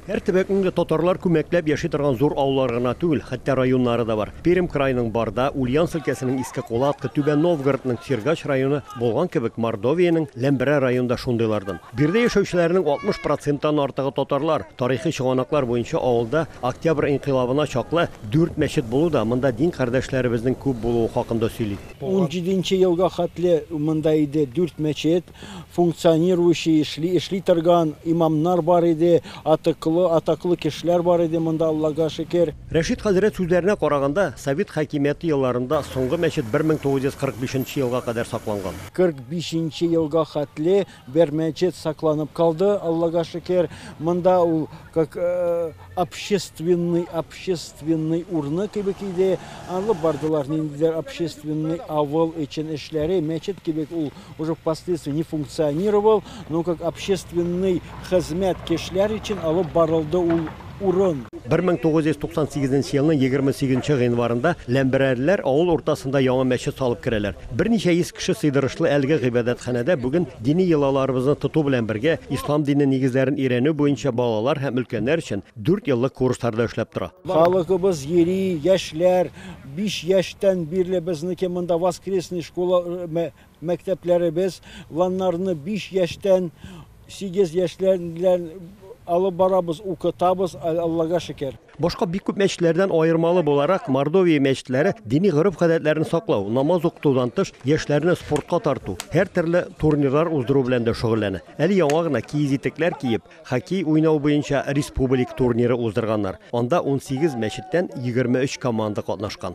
Һәр төбәкнең дә татарлар күмәкләп яши торган зур авыллары гына түгел, хәтта районнары да бар. Пермь краеның Барда, Ульяновск өлкәсенең Иске Кулатка, Түбән Новгородның Сергач районы булган кебек, Мордовиянең Ләмберә районы да шундыйлардан. Биредә яшәүчеләрнең 60 проценттан артыгы татарлар. Тарихи чыганаклар буенча авылда Октябрь инкыйлабына чаклы дүрт мәчет булу да монда дин кардәшләребезнең күп булуы хакында сөйли. Унҗиденче елга хәтле монда иде дүрт мәчет. функционирующий, эшли, эшли торган имамнар бар иде, атыклы, атаклы кешеләр бар иде монда, Аллага шөкер. Рәшит хәзрәт сүзләренә караганда, совет хакимияте елларында соңгы мәчет 1945 нче елга кадәр сакланган. 45 нче елга хәтле бер мәчет сакланып калды, Аллага шөкер. Монда ул как, общественный, общественный урны кебек иде. Алып бардылар ниндидер общественный авыл өчен эшләре, мәчет кебек ул уже впоследствии не функционировал, но как общественный хезмәт кешеләр өчен алып барылды ул урын. 1998 елның 28 гыйнварында ләмберәрләр авыл уртасында яңа мәчет салып керәләр. Берничә йөз кеше сыйдырышлы әлеге гыйбадәтханәдә бүген дини йолаларыбызны тоту белән бергә ислам дине нигезләрен өйрәнү буенча балалар һәм өлкәннәр өчен дүрт еллык курслар да эшләп тора. Халыкыбыз йөри, яшьләр, биш яшьтән бирле безнеке монда воскресный школа, мәктәпләребез, ланнарны биш яшьтән сигез яшьләр белән алып барабыз, укытабыз, Аллага шөкер. Башка бик күп мәчетләрдән аермалы буларак, Мордовия мәчетләре дини гореф-гадәтләрне саклау, намаз укытудан тыш, яшьләрне спортка тарту, һәртөрле турнирлар уздыру белән дә шөгыльләнә. Әле яңа гына киез итекләр киеп, хоккей уйнау буенча республик турниры уздырганнар. Анда унсигез мәчеттән егерме өч команда катнашкан.